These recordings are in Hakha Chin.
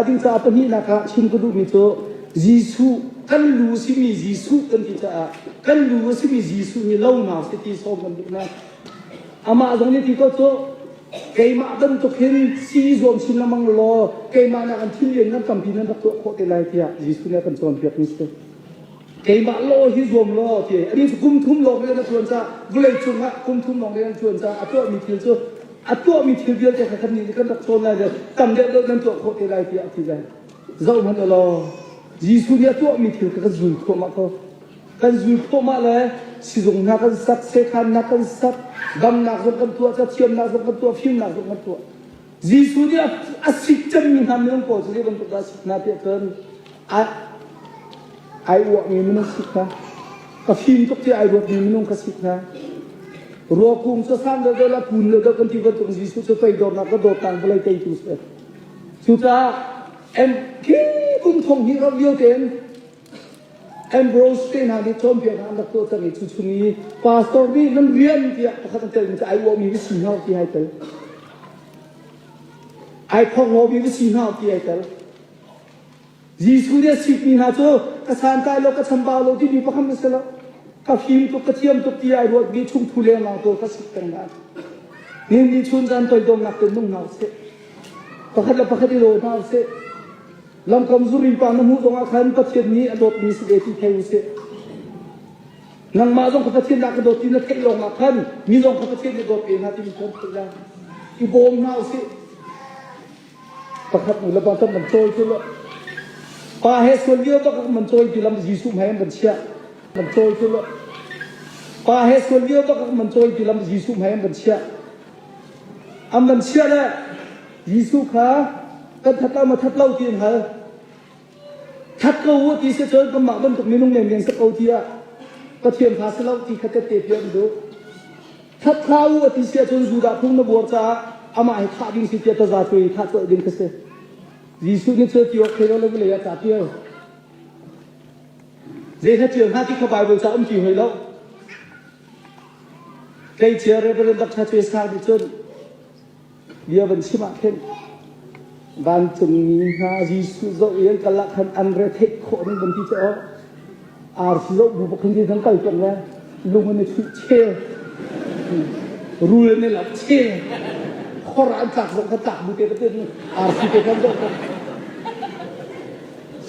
Atuka pahnihnak ah chim ka duhmi cu Jesuh kan lu simi Jesuh kan ti caah kan lu a simi Jesuh nih lo na si ti sawm kan duh na amah zong nih ti ko cu keimah bantuk hin si zuam chin lemang law keimah nak an thil lian nan tampi nan rak tuah khawh te lai tiah Jesuh nih a kan cawnpiak mi si. keimah law hi zuam law ti a ni kum thum lawng rian a tuan ca vawlei cung ah kum thum lawng rian tuan ca a tuahmi thil cu a tuahmi thil vialte kha kan nih nih kan rak cawn lai deuh tam deuh deuh nan tuah khawh te lai tiah a ti lai zoh hmanh law Jesuh nih a tuahmi thil kha kan zul thluahmah ko kan zul thluahmah le sizung hna kan sak setan hna kan sak damnak zong kan tuah cathiamnak zong kan tuah fimnak zong kan tuah Jesuh nih a sik cemmi hna minung pawl cu zei bantuk dah a sik hna tiah cun ai, ai uahmi minung sik hna, ka fim tuk tiah ai ruatmi minung ka sik hna. Ruakung cu san dodol a kun le dok an ti bantuk Jesuh cu pei dornak ka dawtnak vawlei teitu si. Cucaah em khi kum thong hi ram lio tein Ambrose te hna nih cawnpiaknak an rak tuahter i cuchung i pastor nih nan rian tiah pakhat an telmi cu ai uahmi va si hna u ti ai tel. Ai phongomi va si hna u ti ai tel. Jesuh nih a sikmi hna cu ka santlai lo ka chambau lo timi pakhat na si lo. Ka fim tuk ka thiam tuk ti ai ruatmi chungthu lengah tu ka sik peng lai. Nin ni chun zan toidornak te nung hna u sih. Pakhat le pakhat i law hna u sih. Lamkam zurin pa na hmuh zongah khan Pathian nih a dawtmi si ve ti thei usih. Nangmah zong ka Pathian na ka dawt ti na theih lawngah khan mi zong ka Pathian na dawt ve hna timi khan theih la. I bawm hna usih. Pakhat nu lepa tam man cawi cu pa he sual lio bak man cawi ti lam Jesuh he an chiah. Man cawi cu pa he sual lio bak man cawi ti lam Jesuh he an chiah. An van chiah le Jesuh kha kan that lo ma that lo ti an hal. That ko u ti si cun kanmah bantuk minung mengen si ko tiah Pathian fa si lo ti kha kan te piak an duh. That hla u a ti si cun Judah phung na buar caah amah he thah ding si tiah taza cu i thah colh ding ka si. Jesuh nih cu ti awk thei lo le vawlei ah ca pial. Zei hla tial hna ti kha Bible ca um ti hoi lo. Tleicia Reverend Dr. Chwe Sang nih cun Bia van chim ah khin vancungmi hna Jesuh zoh i an karlak khan an retheih khawhmi van ti cu aw arsi zoh bu khan ti nan kal tuan le lung an i chuih che rul an i lak che khor an tlak zoh ka tlak bu te ka tin arsi te kan zoh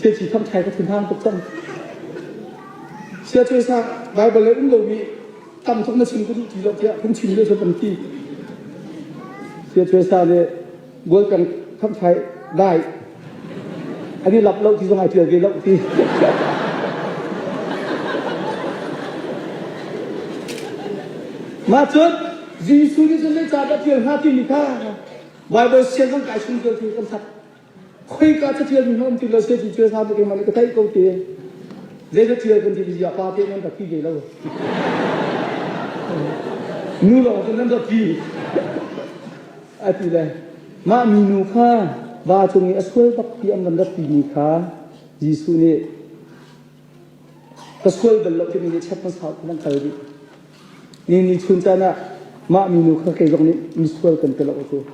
che chỉ thăm trái có thể mang tục tâm Siapa sa Bible le um lo mi tam thawk na chim ka duh ti lo tiah phungchim nih cun an ti sia chue sa nih goal peng kham fai dai an i lap lo ti zong ai ṭial ve lo ti mah cun Jesuh nih cun zei cah dah ṭial hnga timi kha Bible siang kan kai chung ṭial tu kan sak khoika ca ṭhial mi hna um ti lo se ti cu hna keimah nih ka theih ko te zei ca ṭhial kan ti ti zia pa te nan rak pi ve lo nu lawng cu nan rak pi a ti le mah minu kha va cung i a sual bak ti an van rak ti mi kha Jesuh nih ka sual bal lo timi nih chat hmasa in an kal rih ni ni chun tan ah mah minu kha kei zong nih misual kan ti lo cu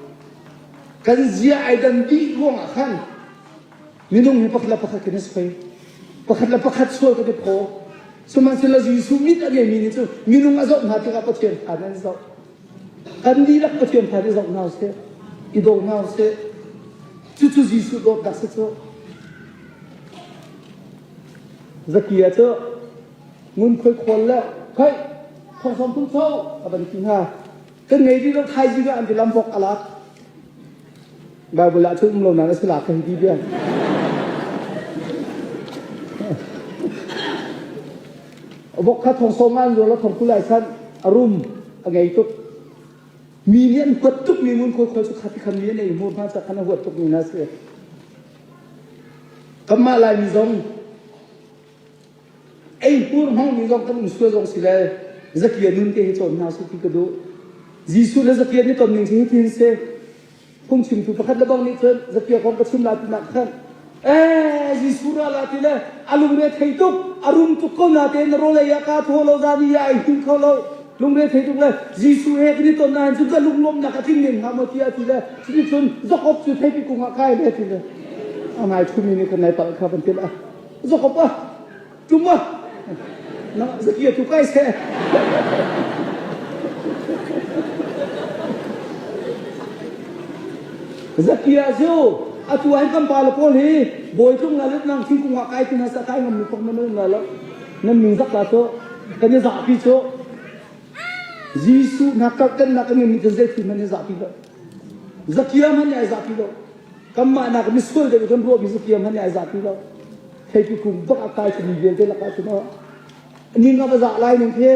kan zia ai dan dih ruang ah khan minung he pakhat le pakhat in a soi pakhat le pakhat sual kan i phaw sihmanhsehlaw Jesuh mit a ngeimi nih cu minung a zoh hna tikah Pathian fa nan zoh kan dihlak Pathian fa nih zoh hna seh i daw hna seh cucu Jesuh dawtnak si cu Zaki ah cu ngunkhuai khawl le khaih thorsawm tung cho a van ti hna. Kan ngei dih lo thaizing ah an ti lam bok a lak. Bible ah cun um lo nan a si la kan ti bia. Bok kha thorsawm an rual a thorku lai san a rum a ngei tuk. Mi nih an huat tuk mi ngunkhuai khawl cu khati khan mi an ei mur hna cak khan a huat tuk mi na si. Kanmah Laimi zong ei hmurhmangmi zong kan um sual zong si le zakia nun te hi cawn hna su ti ka duh. Jesuh le zakia nih ton ning hi ti hin si. Phungchimtu pakhat le bang nih cun zakia kong ka chim lai tinak khan ee Jesuh ra la ti le a lungre thei tuk a rum tuk ko na tein rawlei ah kaa thaw lo zan i a ei him kho lo Lungre thei tuk le Jesuh he kan i ton nain cun ka lunglawmnak a tling men hnga maw tiah a ti le cuti cun zokop cu theipi kung ah kai le a ti le a ngai thumi nih kan nai palh kha van tilh a zokop a tum a na zaki tu kai se zaki ah ziu atu an kan pa le paul hi bawi tlung na let nang thing kung ah kai tin hasa kai ngam mi pok man na lo Nan nu bak la cu kan i zahpi cu Jesuh na karh kan nak in min zei ti man i zahpi lo zakiam han ai zahpi lo kanmah nak misual deuh kan ruah mi zakiam han ai zahpi lo thei pi kum bak akai tu mi vialte laka tu no ning ka za lai ning te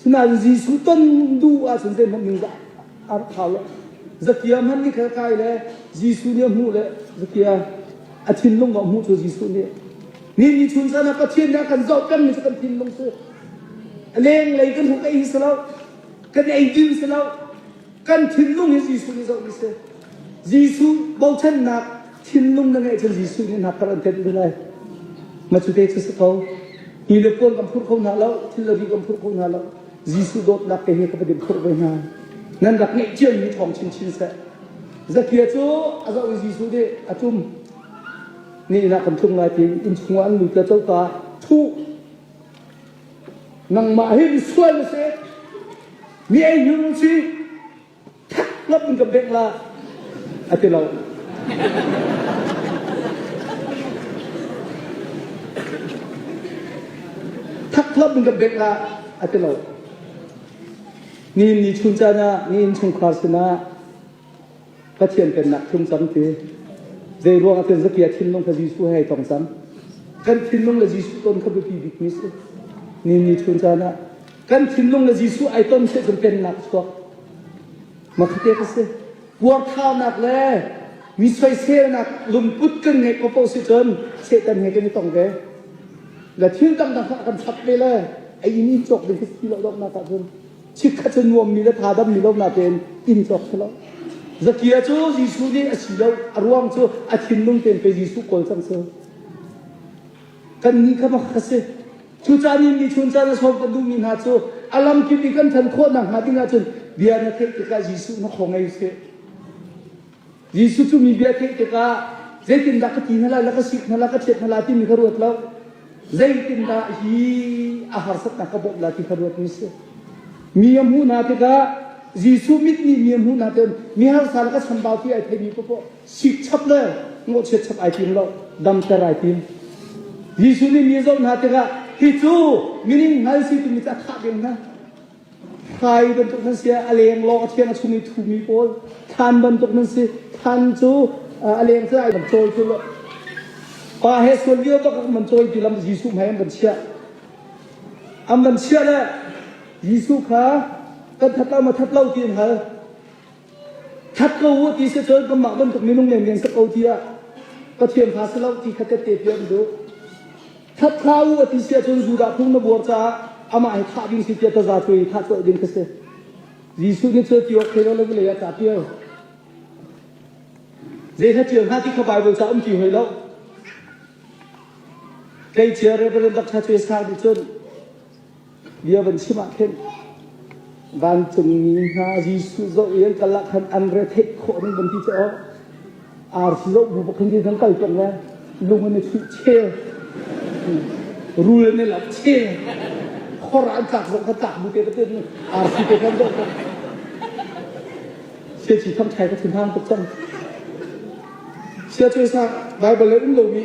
sinain Jesuh ton du a sin zein hon ning za ar thau lo zakiam han ni khal kai le Jesuh ni hmu le zakiam a thinlung ka hmuh cu Jesuh nih ni ni chun sana Pathian nih a kan zoh pengmi cu kan thinlung cu a leng lei kan hmuh ka ei si lo kan eidin si lo kan thinlung hi Jesuh nih zoh ni si Jesuh bochannak thinlung na ngeih cun Jesuh nih nak kar an thenh lai ma cu te cu si ko ni le puan kan phurh kho hna lo thil le ri kan phurh kho hna lo Jesuh dawtnak te hi ka va din phurh ve hna nan rak ngeih ciami thawng chinchin seh Zakia cu a zoh i Jesuh nih a tum. Nihnak kan tlung lai ti inn chungah an lut le coka thuh. Nangmah hin sual na si. Mi ei hnu si. Thak ngap in kan bengh la. A ti lo. Thak ngap in kan bengh la. A ti lo. Ni in ni chun caan ah ni inn chungkhar sinah Pathian pennak phung tampi. Zei ruangah tin zakia thinlung kha Jesuh he ai tong cang. Kan thinlung le Jesuh ton kha biapi bikmi si. Ni ni chun caan ah kan thinlung le Jesuh ai ton seh cun pennak chuak. Makhate ka si. Puarthaunak le mi soiselnak lungput kan ngeih popo si cun Satan he kan i tong ve. Ga thil dangdang kha kan chak ve le a ini cawk ding khi ti lo dawknak ah cun chikkhat cu nuammi le tha dammi lo natein inn tlok si lo. Zakia cu Jesuh nih a si lo, a ruang cu a thinlung tein pei Jesuh kawl cang si. Kan nih kha mak a si. Cucaan i michun caan a sawm kan duhmi hna cu a lamkip i kan ṭhan khawh nakhnga ding ahcun bia na theih tikah Jesuh na khawng ei sih. Jesuh cu mi bia theih tikah zeitindah ka ti hna lai, na ka sik hna lai, ka ṭhiat hna lai timi kha ruat lo. Zeitindah hi a harsatnak ka bawmh lai ti kha ruat mi a si. Mi a hmuh hna tikah Jesuh mit nih mi a hmuh hna tikah mi harsa le ka chambau ti ai theimi popoh sik chap le ngawhchiat chap ai tim lo, damter ai tim. Jesuh nih mi a zoh hna tikah hi cu mining hngal si timi cu a thah ding hna. Hlai bantuk nan si, a lenglawng a thiang a chungmi thumi pawl than bantuk nan si. Than cu a leng cu ai kan cawi ti lo. Pa he sual lio bak man cawi ti lam Jesuh hmai an kan chiah. An van chiah le Jesuh kha kan that lo ma that lo ti an hal. That ko u ti se cun kanmah bantuk minung mengen sak ko ti ah Pathian fa si lo ti kha tette piak duh. That hna u a ti si ahcun Judah phung na buar caah amah he thah ding si tiah taza cung in thah colh ding ka si. Jesuh nih cun tiawk thei lo lei ah ca tial. Zei hna tial hna ti kha Bible ca um ti hoi lo. Tleicia Reverend Dr. Chase Khan nih cun bia van chim ah khin vancungmi hna Jesuh zoh i an kal ah khan an re theih khawh ding van ti te aw arsi zoh bu bakhin ti thang kal tong le lung an i thuih che rul an i lap che khor an tlak zoh ka tlak bu te patin arsi te kan zoh tong sia chi thang thai ka thin hang tuk cang sia tu sa Bible in lo mi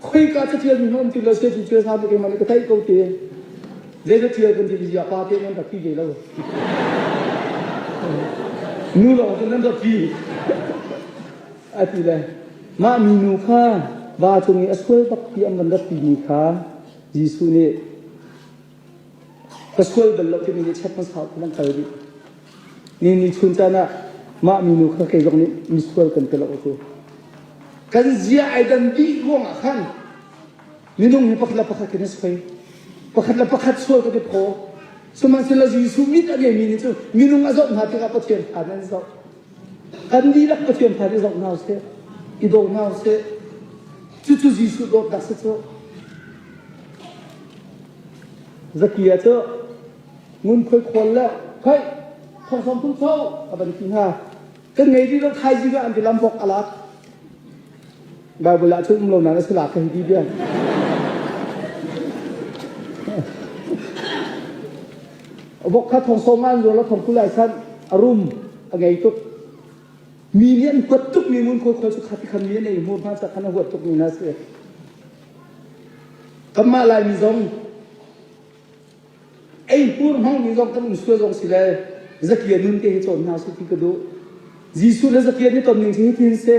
khoika cathialmi hmanh um ti lo se cu cel hna bik in man ka theih ko te zei cathial kan ti ziah pa te nan rak pi ve lo nu lawng cu nan rak pi a ti le mah minu kha va cung i a sual bak ti an van rak ti mi kha Jesuh nih ka sual bal lo timi nih chet hmang sau an kal rih ni ni chun caan ah mah minu kha kei zong nih misual kan ti lo cu kan zia ai dan dih ruang ah khan minung he pakhat le pakhat in a soi pakhat le pakhat sual kan i phaw sihmanhsehlaw Jesuh mit a ngeimi nih cun minung a zoh hna tikah Pathian thlan an zoh Kan dihlak Pathian thar i zoh hna seh, i daw hna seh. Cucu Jesuh dawtnak si cu. Zakia cu ngunkhuai khual le hei thorsawm tu co a ban ti hna. Kan ngei rih lo thaizi an bilam bok a lak. Baibal ah cun um lo nan a si la ka hei ti bian. Vok kha thong sawm an rual a thong kul lai san a rum a ngei tuk. Mi nih an kuat tuk mi mun khoi khoi cu khati khan mi an ei mur hna sa khan a huat tuk mi na si. Kanmah lai mi zong Eipur hmangmi zong kan um sual zong si le zakia nun te hi cawn hna su ti ka duh. Jesuh le zakia nih tonning cing hi thil si.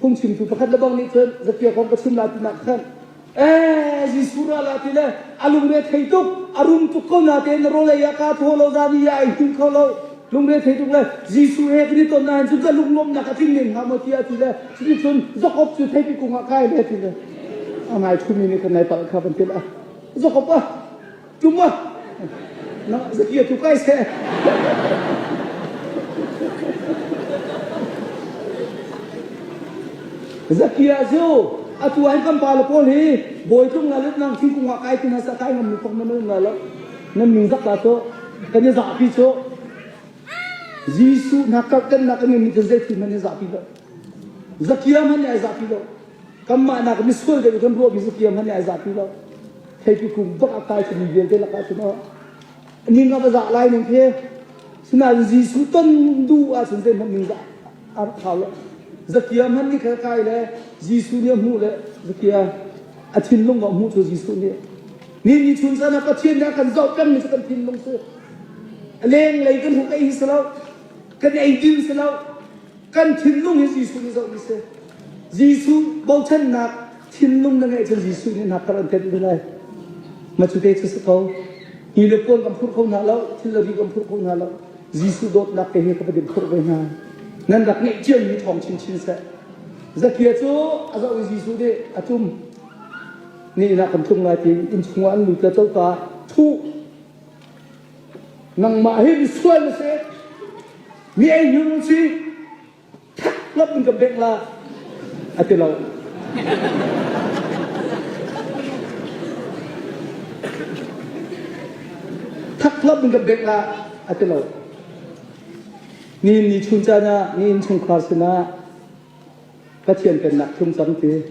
Phungchimtu pakhat le bang nih cun zakia kong ka chim la tinak khan ee Jesuh ra la ti le a lungre thei tuk a rum tuk ko na te na rawlei ah ka thuo lo zan i a ei tum kho lo lungre thei tuk le Jesuh he kan i ton na hin cun ka lunglawmnak a tling men hnga maw tiah ti le cuti cun zokop cu theipi kung ah kai le ti le a ngai thumi nih kan nai palh kha van tilh ah Zakop ah ṭum ah na zakia tu kai seh. zakia cu atu an kan pa le pawl hi bawi tlung la lut nang thingkung ah kai tin ha sa kai ngam ni pok na mel la lo nan ming zak la to kan ya za pi cho Jesu na kar kan na kan ni te zai thi man ya za pi lo zakia man ya za pi lo Kanmah nak misual deuh kan ruahmi cu kiam han ai zapi lo. Theipi kum bak a kai tumi vialte lakah cun o. Ning a va zah lai ning khi sinain Jesuh ton duh ah cun zeihmanh ning zah a khau lo. Zakiam han ni khal kai le Jesuh nih a hmuh le zakiam a thinlung a hmuh cu Jesuh nih ni ni chun san ah Pathian nih a kan zoh pengmi cu kan thinlung cu a lenglei kan hmuh ka ei si lo kan ei din si lo kan thinlung hi Jesuh nih zoh mi si. Jesuh bochannak thinlung na ngeih cun Jesuh nih hna kar an thenh ding lai. Ma cu te cu si ko. Hi le puan kan phurh kho hna lo, thil le ri kan phurh kho hna lo. Jesuh dawtnak ke hi ka va dim phurh ve hna. Nan rak ngeih ciam mi thawng chinchin seh. Zakia cu a zoh i Jesuh nih a tum. Ni na kan tlung lai ti inn chungah an lut le coka thuh Nangmah hi misual na si. Mi ei hnu na si. That lop in ka bek la. A ti lo. Thak lop in ka bek la. A ti lo. Ni ni chun caan ah ni inn chungkhar sinah Pathian pennak tlung cam te.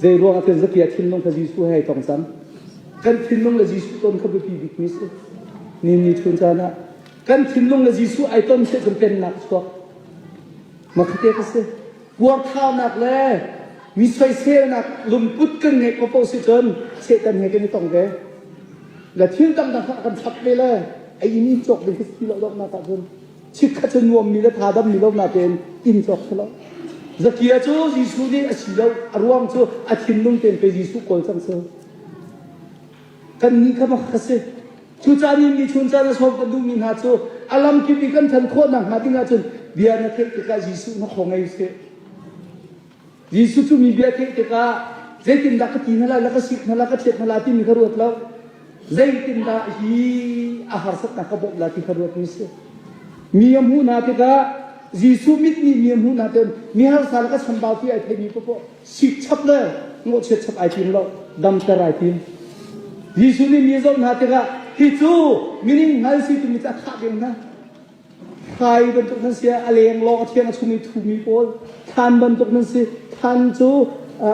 Zeiruang ah cun zakia thinlung kha Jesuh he ai tong cam. Kan thinlung le Jesuh ton kha biapi bikmi si. Ni ni chun caan ah kan thinlung le Jesuh ai ton seh cun pennak chuak. Makhate ka si. Puarthanak le mi soiselnak lungput kan ngeih ko po si cun Satan he kan i tong ve. Ga thil dang dang kan chap ve le ai ni cawk ding ka si lo dok nak ah cun Chikkhat cu nuammi le tha dammi lo nakin inn cawk si lo. Zakia cu Jesuh nih a si lo, a ruang cu a thinlung tein pei Jesuh kawl cang si. Kannih kha mak ka si. Cucaan in michun caan a sawm kan duhmi hna cu a lamkip i kan ṭhan khawh nakhnga ding ahcun bia na theih tikah Jesuh na khaw ngei sih. Jesuh cu mi bia a theih tikah zeitindah ka ti hna lai, na ka sik hna lai, ka thiat hna lai timi kha ruat lo. Zeitindah hi a harsatnak ka bawmh lai ti kha ruat mi si. Mi a hmuh hna tikah Jesuh mit nih mi a hmuh hna tein mi harsa le ka chambau ti ai theimi popoh sik chap le ngawhchiat chap ai tim lo, damter ai tim. Jesuh nih mi a zawt hna tikah hi cu mining hngal si timi cu a thah ding hna. Hrai bantuk nan si ah a leng lawng a thiang a chungmi thumi pawl thlan bantuk nan si. Thlan cu